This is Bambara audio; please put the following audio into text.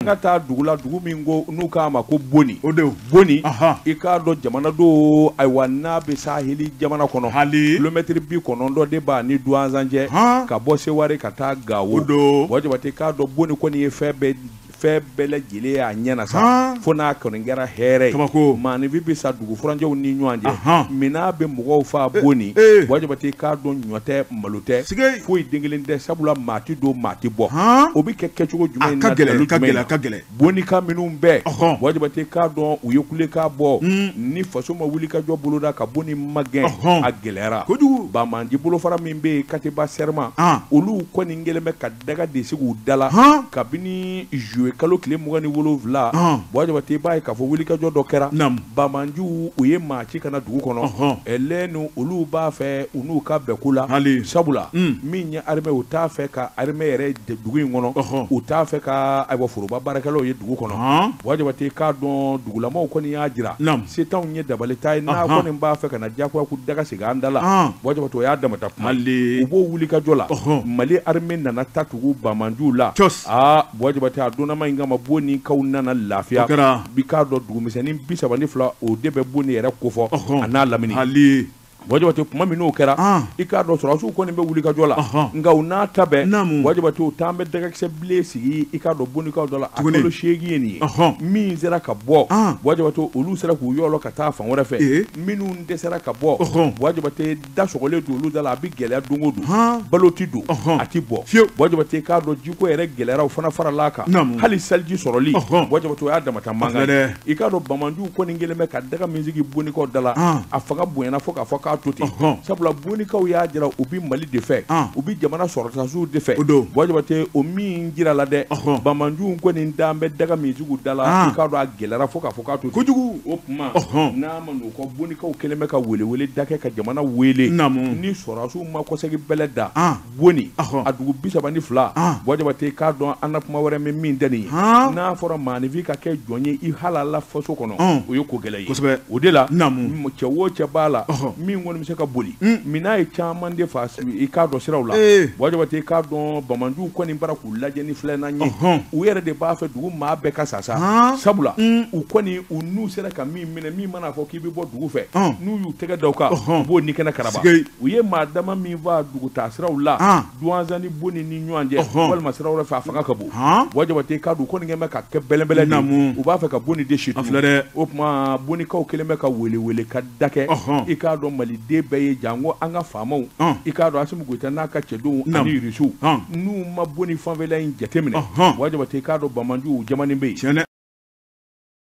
ka taa dugu la dugu min ko n'u k'a ma ko boni boni i k'a dɔn jamana do ayiwa n'a bɛ saheli jamana kɔnɔ kilomɛtiri bi kɔnɔntɔn de b'a ni duwanzan cɛ ka bɔ seware ka taa gawo wa jabate k'a dɔn boni kɔni ye fɛn bɛɛ fɛn bɛɛ lajɛlen y'a ɲɛna sa fo n'a kɔni kɛra hɛrɛ ye maaninfin bɛ sa dugu furancɛw ni ɲɔgɔn cɛ minan bɛ mɔgɔw fa boni wa jabate k'a dɔn ɲɔ tɛ malo tɛ foyi den kelen tɛ sabula maa tɛ don maa tɛ bɔ o bɛ kɛ kɛcogo jumɛn na a ka gɛlɛn bonikaw minnu bɛɛ wa jabate k'a dɔn u ye kulekan bɔ ni faso ma wuli ka jɔ boloda ka boni magɛn a gɛlɛyara banbaanci bolofara min bɛ yen katiba sɛrɛma olu kɔni kɛlen bɛ ka daga de sigi u da la kabini zuluye kalo tile mugan ni wolowula wa jabate b'a ye k'a fɔ wulikajɔ dɔ kɛra Banbaanciw ye maa ci ka na dugu kɔnɔ n olu b'a fɛ u n'u ka bɛn ko la sabula min ye arime u t'a fɛ ka arime yɛrɛ dugu in kɔnɔ u t'a fɛ ka ayiwa foroba baarakɛlaw ye dugu kɔnɔ wajabate k'a dɔn dugulamaw kɔni y'a jira se t'anw ye dabali t'an ye n'a kɔni b'a fɛ ka na jagoya ko daga sigi an da la wajabate o y'a damata kuma u b'o wulikajɔ la mali arime nana ta tugu banbaanciw la a wajabate a donnama in kama bonikaw nana lafiya i k'a dɔn dugumisɛnnin bi saba ni fila o de bɛ boni yɛrɛ kofɔ a n'a lamini wajabate kuma min n'o kɛra i k'a dɔn sɔrɔsiw kɔni bɛ wulikajɔ la nka u n'a ta bɛɛ wajabate u taa bɛ dagakisɛ bilen sigi i k'a dɔn bonikaw dɔ la a kalo seegin ye nin ye min sera ka bɔ wajabate olu sera k'u yɔlɔ ka taa fan wɛrɛ fɛ minnu dɛsɛra ka bɔ wajabate da sɔgɔlen don olu da la a bɛ gɛlɛya don o don balo tɛ don a tɛ bɔ bɔjabate k'a dɔn jiko yɛrɛ gɛlɛyara o fana farala a kan hali seliji sɔrɔli bɔjabate o y'a damata mankan i k'a dɔn banbaanciw kɔni kɛlen bɛ ka daga min sigi bonikaw da la a fanga bonyana fo k'a fɔ k'a to ten sabula bonikaw y'a jira u bɛ mali de fɛ u bɛ jamana sɔrɔdasiw de fɛ bɔjabate o min jirala dɛ banbaanciw kɔni dan bɛ daga min sigi u da la i k'a dɔn a gɛlɛyara fo k'a fɔ k'a to kojugu o tuma n'o kɔ bonikaw kɛlen bɛ ka weleweleda kɛ ka jamana wele ni sɔrɔdasiw ma kɔsegi bɛlɛ da boni a dugu bi saba ni fila bɔjabate k'a dɔn an na kuma wɛrɛ min tɛ nin ye n'a fɔra maanifin ka kɛ jɔn ye i halala faso kɔnɔ o ye ko gɛlɛn ye o de la cɛ wo cɛ b'a la min kɔni bɛ se ka boli minan ye caman de fa i k'a dɔn siraw la bɔjabate k'a dɔn banbaanciw kɔni bara k'u lajɛ ni filɛna ye u yɛrɛ de b'a fɛ dugu maa bɛɛ ka sa sa sabula u kɔni u n'u sera ka min minɛ min mana fɔ k'i bɛ bɔ dugu fɛ n'u y'u tɛgɛ da o kan u b'o ni kɛnɛ karaba u ye maa dama min faga dugutaa siraw la duwanzan ni boni ni ɲɔgɔn cɛ walima sira wɛrɛ fɛ a fanga ka bon wa jabatɛ i k'a dɔn ko nin kɛlen bɛ ka kɛ bɛlɛbɛlɛ namu u b'a fɛ ka boni de ci dɛ o tuma bonikaw kɛlen bɛ ka weele weele ka da kɛ i k'a dɔn maliden bɛɛ ye janko an ka faamaw i k'a dɔn asimi goyita n'a ka cɛdenw ani irisiw n'u ma boni fanfɛla in jateminɛ wa jabatɛ i k'a dɔn banbaanciw jamana bɛ yen